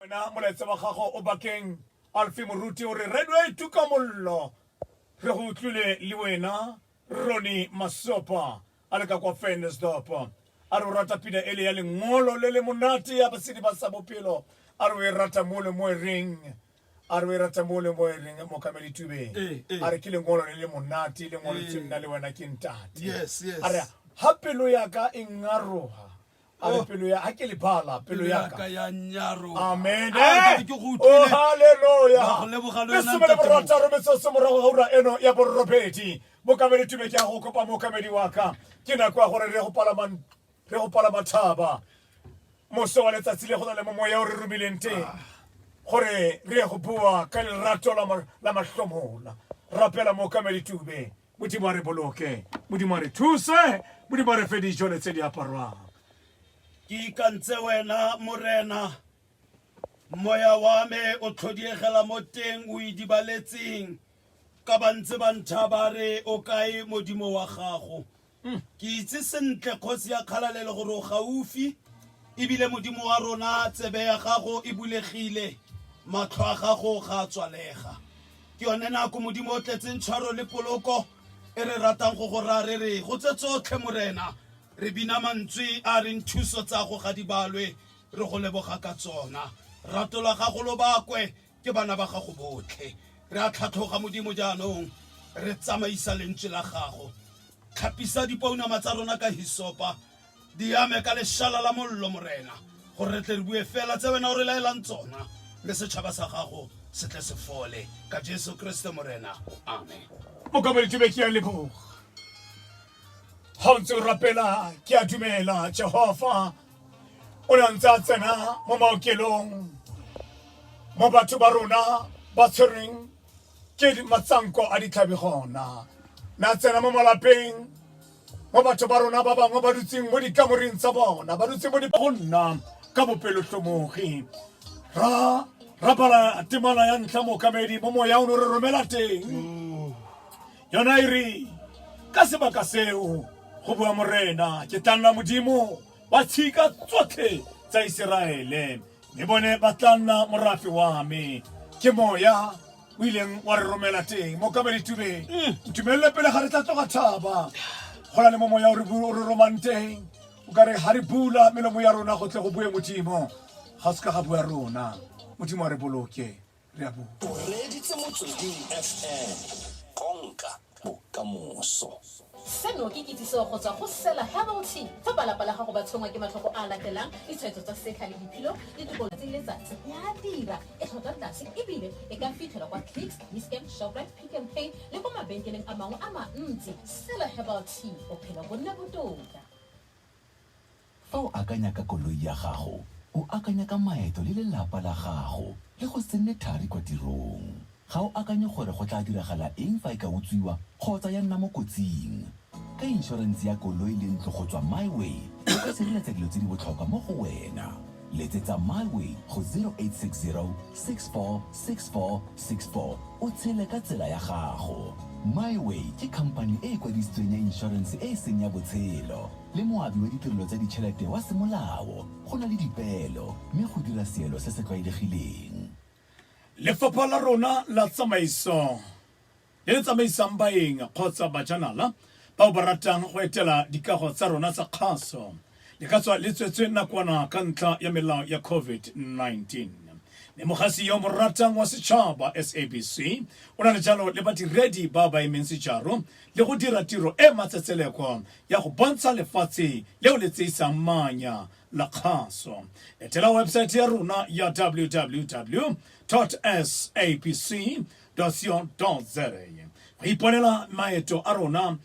wena molaetsa wa gago o bakeng alfi moruti o re redway tuka mollo re go utlwile le wena roni masopa a le ka kwa fendersdop a re o rata pina ele ya lengolo le le monate ya basedi ba sa bophelo a re o e rata mo le mo e reng a re o e rata mo le mo e reng mokamedi tubeng Eh, eh. a re ke lengolo le le monate lengolo tse nna le wena ke ntate yes yes a re ha pelo ya ka e ngaroga a re pelo ya a ke lebala pelo ya ka ya nyaro amen ah, ke go oh, utlwile haleluya go leboga le yona ntate re tsa rometsa se morago ga ura eno ya borobedi mo ka bere tube ke a go kopa mo ka medi wa ka ke na kwa gore re go palama re go palama thaba mo se wa letsatsi le go na le mo moya o re romileng te ah. gore re go bua ka lerato la la mahlomola rapela mo ka medi tube Modimo a re boloke modimo a re thuse modimo a re fe dijo le tse di aparwang ke ikantse wena morena moya wa me o tlhodiegela mo teng o idibaletseng ka ba ntse ba ntha ba re o kae modimo wa gago ke itse sentle kgosi ya kgalalelo gore o gaufi ebile modimo wa rona tsebe ya gago e bulegile matlho a gago ga a tswalega Ke yone nako Modimo o tletseng tshwaro le poloko e re ratang go go raya re re go tse tsotlhe Morena re bina mantswe a reng thuso tsa go ga di balwe re go leboga ka tsona. Rato la gago lo bakwe ke bana ba gago botlhe. Re a tlhatlhoga Modimo jaanong re tsamaisa lentswe la gago. Tlhapisa dipounama tsa rona ka hisopa Di ame ka leshala la mollo, Morena, gore re tle re bue fela tse Wena o re laelang tsona, mme setšhaba sa Gago se tle se fole. Ka Jesu Keresete Morena. Amen. Mokamoletsi be ke a leboga ga o ntse o rapela ke a dumela jehova o ne a ntse a tsena mo maokelong mo batho ba rona ba tshwereng ke matsanko a ditlhabi gona na tsena mo malapeng mo batho ba rona ba bangwe ba dutseng mo dikamoreng tsa bona ba dutseng mo go nna ka bopelotlhomogi ra rapala temana ya ntlha mookamedi mo moya o ne re romela teng mm. yona e re ka sebaka seo go bua morena ke tla nna modimo wa tshika tsotlhe tsa iseraele mme bone ba tla nna morafe wa me ke moya o ileng wa re romela teng mo kabalitubeng ntumelele pele ga re tla tloga thaba go na le mo moya o re bu- o re romang teng o ka re ga re bula melomo ya rona go tle go bue modimo ga o se ka ga bua rona modimo a re boloke re a bua o reditse motsweding fm konka bokamoso. Seno ke kitsiso go tswa go Sela Herbal Tea. Fa balapa la gago ba tshwenngwa ke matlhoko a a latelang, ditshwaetso tsa setlha le diphilo, ditokolo tse letsatsi ya dira e tlhotlhwa tlase e bile e ka fitlhelwa kwa Clicks, Dischem, Shoprite, Pick n Pay le kwa mabenkeleng a mangwe a mantsi. Sela Herbal Tea, bophelo bo nne botoka. Fa o akanya ka koloi ya gago, o akanya ka maeto le lelapa la gago le go se nne thari kwa tirong. Ga o akanye gore go tla diragala eng fa e ka utswiwa kgotsa ya nna mo kotsing. Ka inshorense ya koloi le ntlo go tswa MiWay, o ka sireletsa dilo tse di botlhokwa mo go wena. Letsetsa MiWay go 0860 646464 o tshele ka tsela ya gago. MiWay ke khamphani e e kwadisitsweng ya inshorense e e seng ya botshelo. le moabi wa ditirelo tsa ditšhelete wa semolao go na le dipeelo mme go dira seelo se se tlwaelegileng. Lefapha la rona la tsamaiso le le tsamaisang baeng kgotsa bajanala bao ba ratang go etela dikago tsa rona tsa kgaso le ka tswa le tswetswe nakwana ka ntlha ya melao ya COVID-19. Mme Mogasi yo mo ratang wa setšhaba, SABC, o na le jalo le badiredi ba ba emeng sejaro le go dira tiro e matsetseleko ya go bontsha lefatshe leo le tseisang manya la kgaso etela website ya rona ya www sapc co za go iponela maeto a rona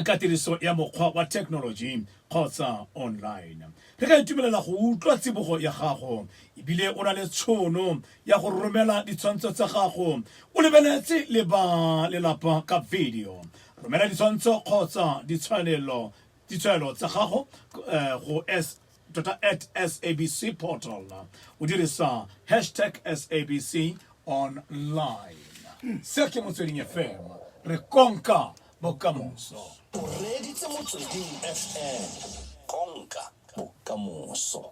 ka tiriso ya mokgwa wa technology kgotsa online re ka itumelela go utlwa tsibogo ya gago ebile o na le tshono ya go romela ditshwantsho tsa gago o lebeletse le ba lelapa ka video romela ditshwantsho kgotsa ditshwanelo ditshwanelo tsa gago eh, go s tota at sabc portal o dirisa hashtag sabc online se ke motsweding fm re konka bokamoso o reditse motsweding fm konka bokamoso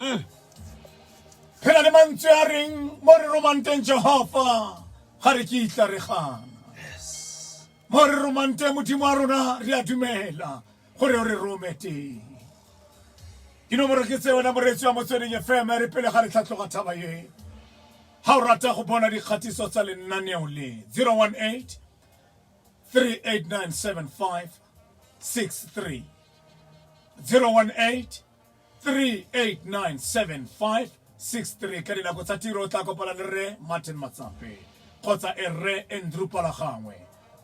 mm. re na le mantswe a reng mo re romang teng jehofa ga re kitla re gana mo re romang teng modimo wa rona re a dumela gore o re rome teng dinomoro ke tse wena moreetsi wa motsweding fm re pele ga re tlhatlhoga thaba ye ga o rata go bona dikgatiso tsa lenaneo le 018 3897563 018 3897563 ka dinako tsa tiro o tla kopana le rre martin matsape kgotsa e rre andrew palagangwe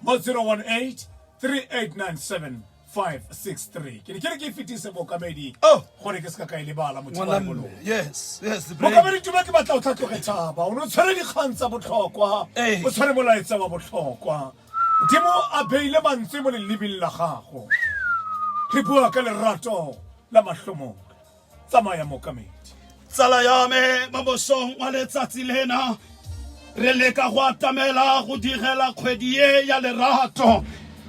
mo 018 3897563 ke ne ke re ke e fetise bookamedi Oh. gore ke se ka ka e lebala motho wa Ngwaname. bolong Yes, yes, the break. mokamedi tuma ke batla o tlhatlhoge tšhaba o ne o tshwere dikgang tsa botlhokwa Ee. o tshwere molaetsa wa botlhokwa Modimo a beile mantswe mo lelibing la gago. Re bua ka lerato la mahlomong. Tsamaya mokamedi. Tsala ya me mo mosong wa letsatsi lena re leka go atamela go digela kgwedi e ya lerato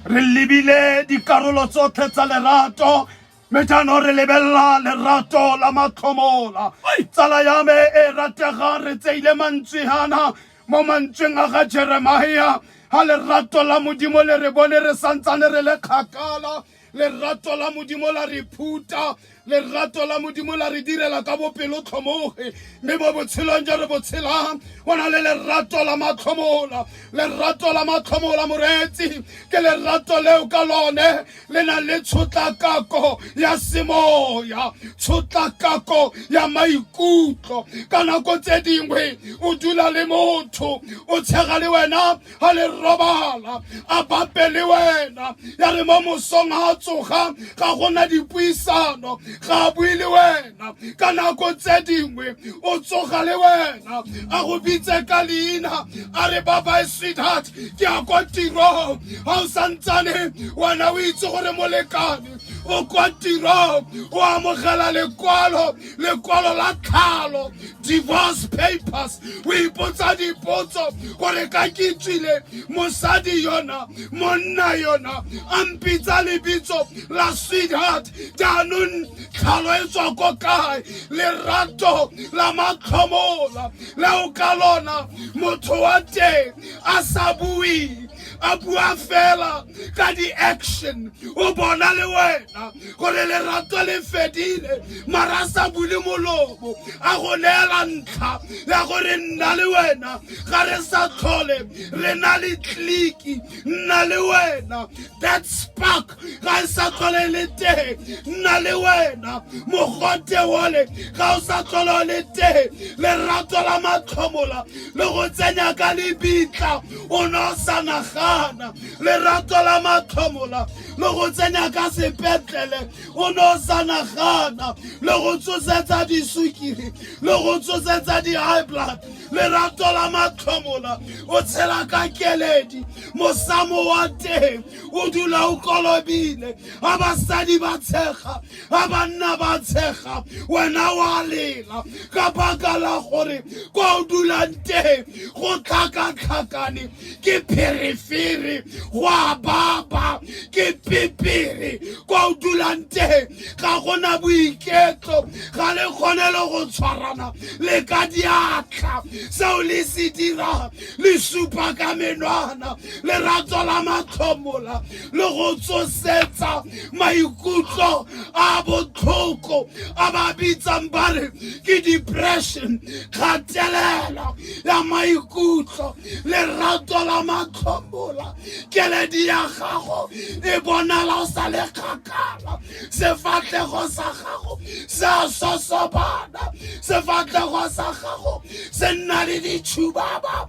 re lebile dikarolo tsotlhe tsa lerato mme jaanong re lebelela lerato la matlhomola tsala ya me e rategang re tseile mantswe ana mo mantsweng a ga jeremia ga lerato la modimo le re bone re santsane re le kgakala lerato la modimo la re phuta lerato la modimo la re direla ka bopelotlhomoge mme mo botshelong jo re botshelang go na le lerato la matlhomola lerato la matlhomola moreetsi ke lerato leo ka lone le na le tshotlakako ya semoya tshotlakako ya maikutlo ka nako tse dingwe o dula le motho o tshega le wena ga le robala a bape le wena ya re mo mosong ga a tsoga ga gona dipuisano ga a bue le wena wena ka nako tse dingwe o tsoga le wena a go bitse ka leina a re babae sweetheart ke ya kwa tirong ga o santsane wena o itse gore molekane o kwa tirong o amogela lekwalo lekwalo la tlhalo divorce papers o ipotsa dipotso gore ka ke tswile mosadi yona monna yona a mpitsa lebitso la sweetheart jaanong tlhalo e tswa ko kae lerato la matlhomola le o ka lona motho wa teng a sa bue a bua fela ka di-action o bona le wena gore lerato le fedile mara a sa bule molomo a go neela ntlha ya gore nna le wena ga re sa tlhole re na le tleliki nna le wena that spark ga e sa tlhole le teng nna le wena mogote ole ga o sa tlhole le teng lerato la matlhomola le go tsenya ka lebitla o ne o sa nagana lerato la matlhomola le go tsenya ka sepetlele o ne o sa nagana le go tsosetsa disukiri le go tsosetsa di-high blood lerato la matlhomola o tshela ka keledi mosamo wa teng o dula o kolobile a basadi ba tshega a banna ba tshega wena wa lela ka baka la gore kwa o dulang teng go tlhakatlhakane ke pherefere go a baba ke pepere kwa o dulang teng ga gona boiketlo ga le kgone le go tshwarana le ka diatla seo le se dirang le supa ka menwana lerato la matlhomola le go tsosetsa maikutlo a botlhoko a ba bitsang ba re ke depression kgatelela ya maikutlo lerato la matlhomola keledi ya gago e bonala o sa le kgakala sefatlhego sa gago se a sosobana sefatlhego sa gago se nna le ditšhubaba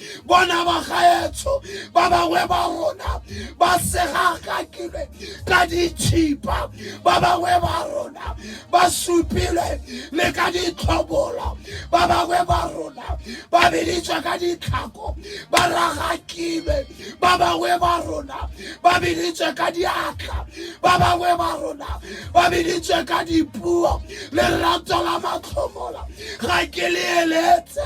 bona ba gaetsho ba bangwe ba rona ba segagakilwe ka ditšhipa ba bangwe ba rona ba supilwe le ka ditlhobolo ba bangwe ba rona ba beditswa ka ditlhako ba ragakilwe ba bangwe ba rona ba beditswe ka diatla ba bangwe ba rona ba beditswe ka dipuo lerato la matlhomola ga ke le eletse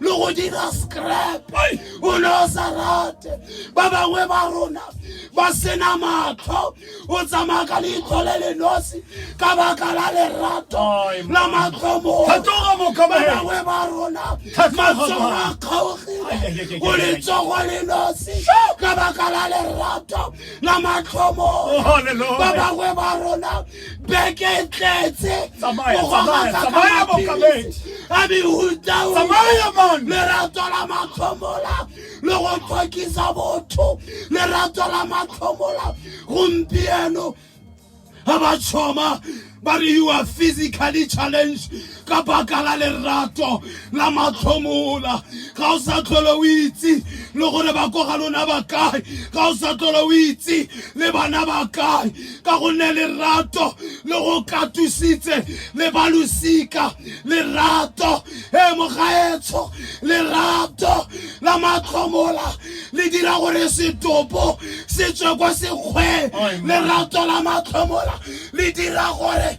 le go dira scrap o ne o sa rate ba bangwe ba rona ba sena matlho o tsamaya ka leitlho le le nosi ka baka la lerato la matlhomoba bangwe ba rona matsogo a kgaogile o letsogo le nosi ka baka la lerato la matlhomo oh, ba bangwe ba rona beke e tletse Tsamaya, go tsamaya, gogasa ka tsamaya, maphedi. Mokamedi. a mehutaung Tsamaya, man. lerato la matlhomola le go tlhokisa botho lerato la matlhomola gompieno ga ba tšhoma ba re you are physically challenged ka baka la lerato la matlhomola ga o sa tlhole o itse le gore ba ko ga lona ba kae ga o sa tlhole o itse le bana ba kae ka gonne lerato le go katusitse le ba losika lerato e mogaetsho lerato la matlhomola le dira gore setopo se tswe kwa sekgweng lerato la matlhomola le dira gore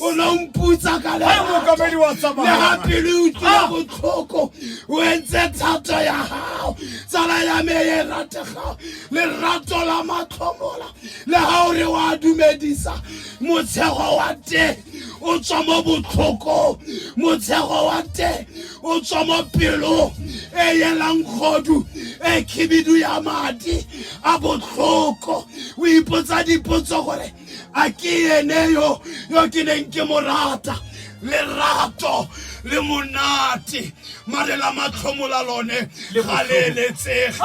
o ne o mputsa ka le ga pele o tlile ah! botlhoko o entse thato ya gago tsala ya me e rategago lerato la matlhomola le ga o re wa dumedisa motshego wa teng o tswa mo botlhokong motshego wa teng o tswa mo pelong e yelang kgodu e khibidu ya madi a botlhoko o ipotsa dipotso gore a ke ene yo yo ke neng ke mo rata lerato le monate mare la matlhomo la lone ga le eletsege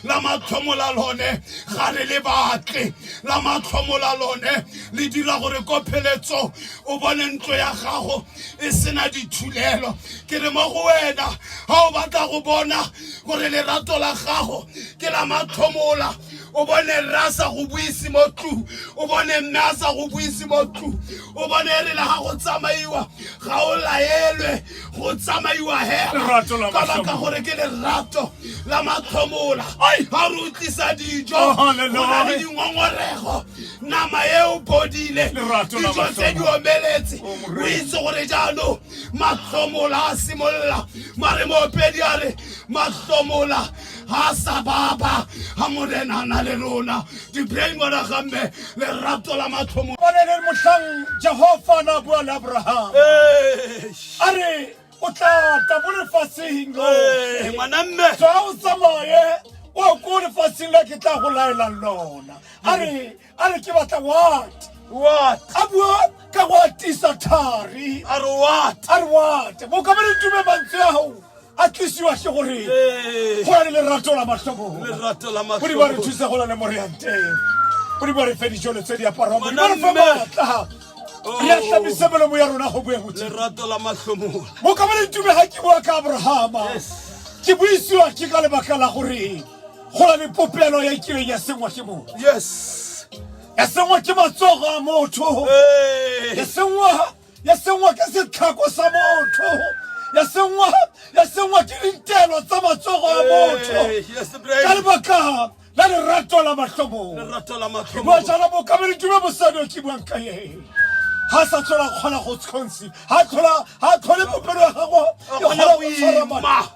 la matlhomo la lone ga re le batle la matlhomo la lone le dira gore ko pheletso o bone ntlo ya gago e sena dithulelo ke re mo go wena ga o batla go bona gore lerato la gago ke la matlhomola o bone rre a sa go buise mo tlung o bone mme a sa go buise mo tlung o bone e rele ga go tsamaiwa ga o laelwe go tsamaiwa hela ka baka gore ke lerato la matlhomola ga re utlisa dijo oh, go na le dingongorego nama e o bodile dijo tse di omeletse oh, o itse gore jaanong matlhomola a simolola mare moopedi a re matlhomola ga a sa baba ga morena a na le rona di-brain wala gamme lerato la mathomo ba ne le motlhang jehofa na bua le abraham a re o tla tla mo lefatsheng lo Ee, ngwana mme tswa o tsamaye o ko lefatsheng la ke tla go laelang lona a re a re ke batla what what a bua ka go atisa thari a re what a re what bokamane tume mantswe ya gago a tlisiwa ke gore go na le lerato la matlhokogodi ba re thusa go na le moreanteng godi ba re fe dijolo tse di aparwang godi ba re fe maatla oh. re a tlamise melomo ya rona go boeng gomokamane tume ga ke bua ka abrahama ke buisiwa ke ka lebaka la gore go na le popelo ya kileng ya sengwa ke motho yes ya sengwa ke matsogo a motho ya sengwa ya sengwa ke setlhako sa motho ya sengwa ya sengwa ke dintelo tsa matsogo a motho ka lebaka la lerato la matlhomongwa jalo bokamedi tume bosadi o ke buang ka eng ga sa tlhola kgona go tshwantshe ga tlhole popelo ya gago e kgona go tshwara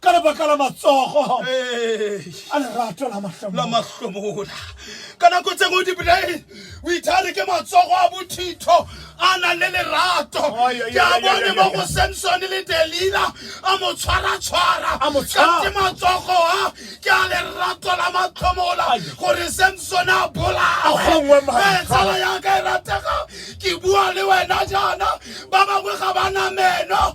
ka lebaka la matsogo a lerato la mahlomola ka nako tse ngwe dibolae o ithare ke matsogo a bothitho a nang le lerato ke a bone mo go samson le delila a mo tshwaratshwara kante matsogo a ke a lerato la matlhomola gore samson a bolaetsala yaka e ratega ke bua le wena jaana ba bangwe ga ba na meno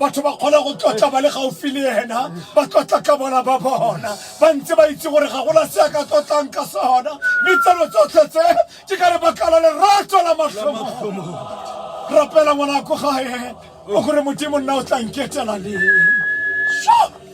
batho ba kgona go tlotla ba le gaufi le ena ba tlotla ka bona ba bona ba ntse ba itse gore ga gona se a ka tlotlang ka sona mme tseno tsotlhe tse ke ka lebaka la lerato la matlhomo rapela ngwanako gae o gore modimo nna o tla nketela leng